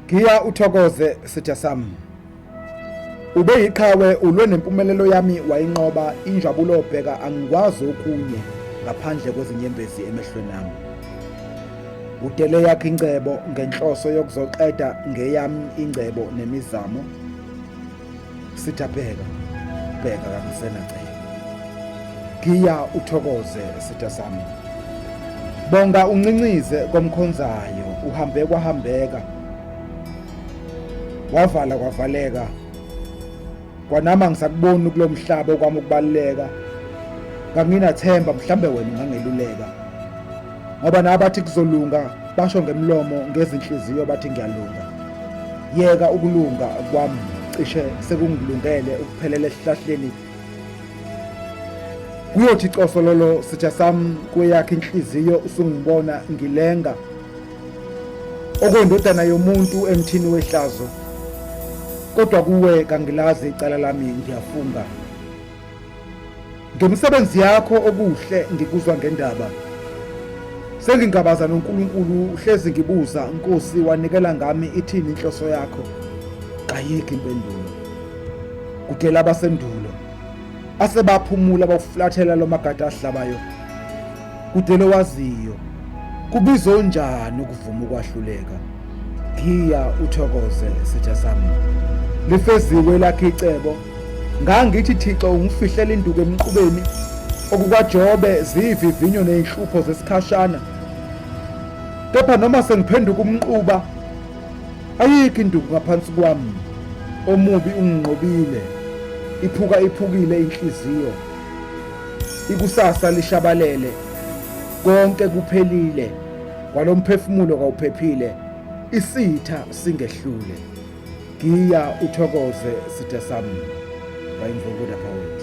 Giya uthokoze sitha sami. Ube yiqhawe ulwe nempumelelo yami wayinqoba injabulo bheka angikwazi okunye ngaphandle kwezinyembezi emehlweni ami. Udele yakhe ingcebo ngenhloso yokuzoqeda ngeyami ingcebo nemizamo. sitha bheka bheka kangisenacela giya uthokoze sitha sami bonga uncincize komkhonzayo uhambe kwahambeka wavala kwavaleka kwanama ngisakubona kulomhlaba kwami ukubaleka kanginathemba mhlambe wena ungangeluleka ngoba nabathi kuzolunga basho ngemlomo ngezinhliziyo bathi ngiyalunga yeka ukulunga kwami cishe sekungilungele ukuphelela esihlahleni kuyothi cosololo sitha sami kweyakhe inhliziyo usungibona ngilenga okwendodana yomuntu emthini wehlazo kodwa kuwe kangilazi icala lami ngiyafunga Ngemisebenzi yakho okuhle ngikuzwa ngendaba. Sengingabaza noNkulunkulu uhlezi ngibuza Nkosi wanikela ngami ithini inhloso yakho. Qayiki impendulo. Kudela abasendulo asebaphumula bawuflathela lomagada ahlabayo. Kudele waziyo kubizo njani ukuvuma ukwahluleka. Giya uthokoze sitha sami. Lifeziwe lakhe icebo. Ngangithi Thixo ungifihlela induku emqubeni okukaJobe ziyivivinyo nezinhlupho zesikhashana. Kepha noma sengiphenduka umnquba ayikho induku ngaphansi kwami omubi unginqobile iphuka iphukile inhliziyo ikusasa lishabalele konke kuphelile kwalomphefumulo kawuphephile isitha singehlule giya uthokoze sithe sami bayimvukuda poet